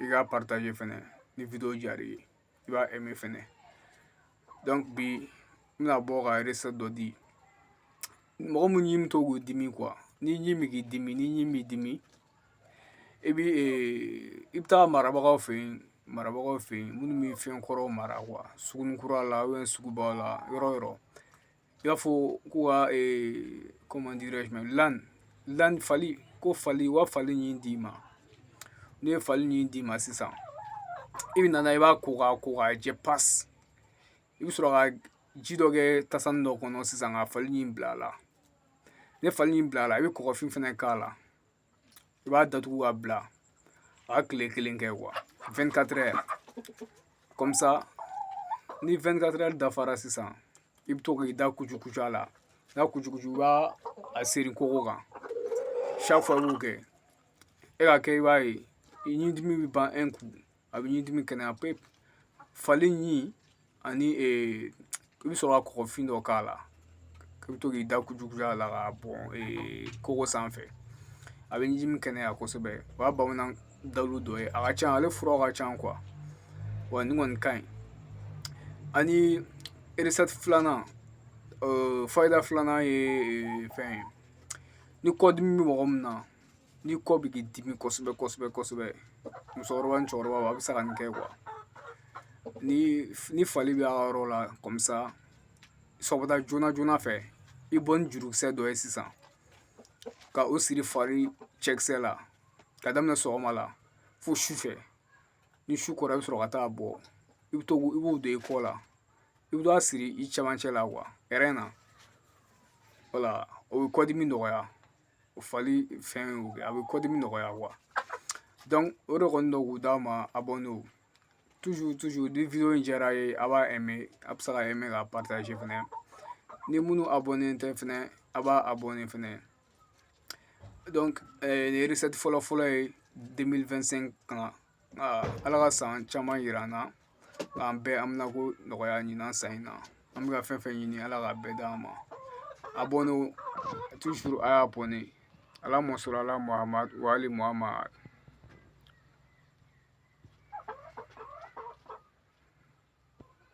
i k'a partager fɛnɛ ni video diyara i ye i b'a aimer fɛnɛ donc bi n bɛna bɔ ka recette dɔ di mɔgɔ minnu ɲi bɛ to k'u dimi quoi n'i ɲi bɛ k'i dimi n'i ɲi b'i dimi i bɛ i bɛ taa marabagaw fɛ yen marabagaw fɛ yen minnu bɛ fɛn kɔrɔw mara quoi sugunikura la sugubaw la yɔrɔ yɔrɔ i b'a fɔ k'u ka comment dirais-je l'âne l'âne fali ko fali u ka fali ɲi d'i ma n'u ye fali ɲi d'i ma sisan i bɛna na i b'a ko k'a ko k'a jɛ pasi i bɛ sɔrɔ ka ji dɔ kɛ tasani dɔ kɔnɔ sisan ka fali ɲi bila a la n'i ye fali ɲi bila a la i bɛ kɔgɔfin fɛnɛ k'a la i b'a datugu k'a bila a ka kile kelen kɛ quoi 24 heures comme ça ni 24 heures dafara sisan i bɛ to k'i da kucukucu a la n'a kucukucu i b'a a seri kogo kan chaque fois i b'o kɛ i k'a kɛ i b'a ye i ɲi dimi bɛ ban a bɛ ɲin dimi kɛnɛya pewu fali ɲin ani i bɛ sɔrɔ ka kɔgɔfin dɔ k'a la i bɛ to k'i da kucukucu a la k'a bɔn kogo sanfɛ a bɛ ɲin dimi kɛnɛya kosɛbɛ o y'a bamanan dalu dɔ ye a ka ca ale furaw ka ca quoi wa nin kɔni ka ɲi ani recette filanan fayida filanan ye fɛn ye ni kɔdimi bɛ mɔgɔ min na ni kɔ bɛ k'i dimi kosɛbɛ kosɛbɛ kosɛbɛ musokɔrɔba ni cɛkɔrɔba a bɛ se ka nin kɛ quoi ni fali bɛ a yɔrɔ la comme ça sɔgɔmada joona joona fɛ i bɔ ni jurukisɛ dɔ ye sisan ka o siri fali cɛkisɛ la ka daminɛ sɔgɔma la fo sufɛ ni su kora i bɛ sɔrɔ ka taa a bɔ i bɛ to i b'o don i kɔ la i bɛ taa a siri i cɛmancɛ la quoi rein na voilà o bɛ kɔdimi nɔgɔya o fali fɛn o kɛ a bɛ kɔdimi nɔgɔya o de kɔni don k'u d'a ma a bɔ n'o ni in diyara a ye a b'a a bɛ se ka k'a fɛnɛ ni minnu a bɔnnen tɛ fɛnɛ a b'a a bɔnnen fɛnɛ nin fɔlɔ fɔlɔ ye kan ala ka san caman yira an na k'an bɛɛ haminanko nɔgɔya ɲinan san in na an bɛ ka fɛn fɛn ɲini ala k'a bɛɛ d'an ma abonner toujours a y'a abonner allahumma salli ala muhamadu wa ali muhamadu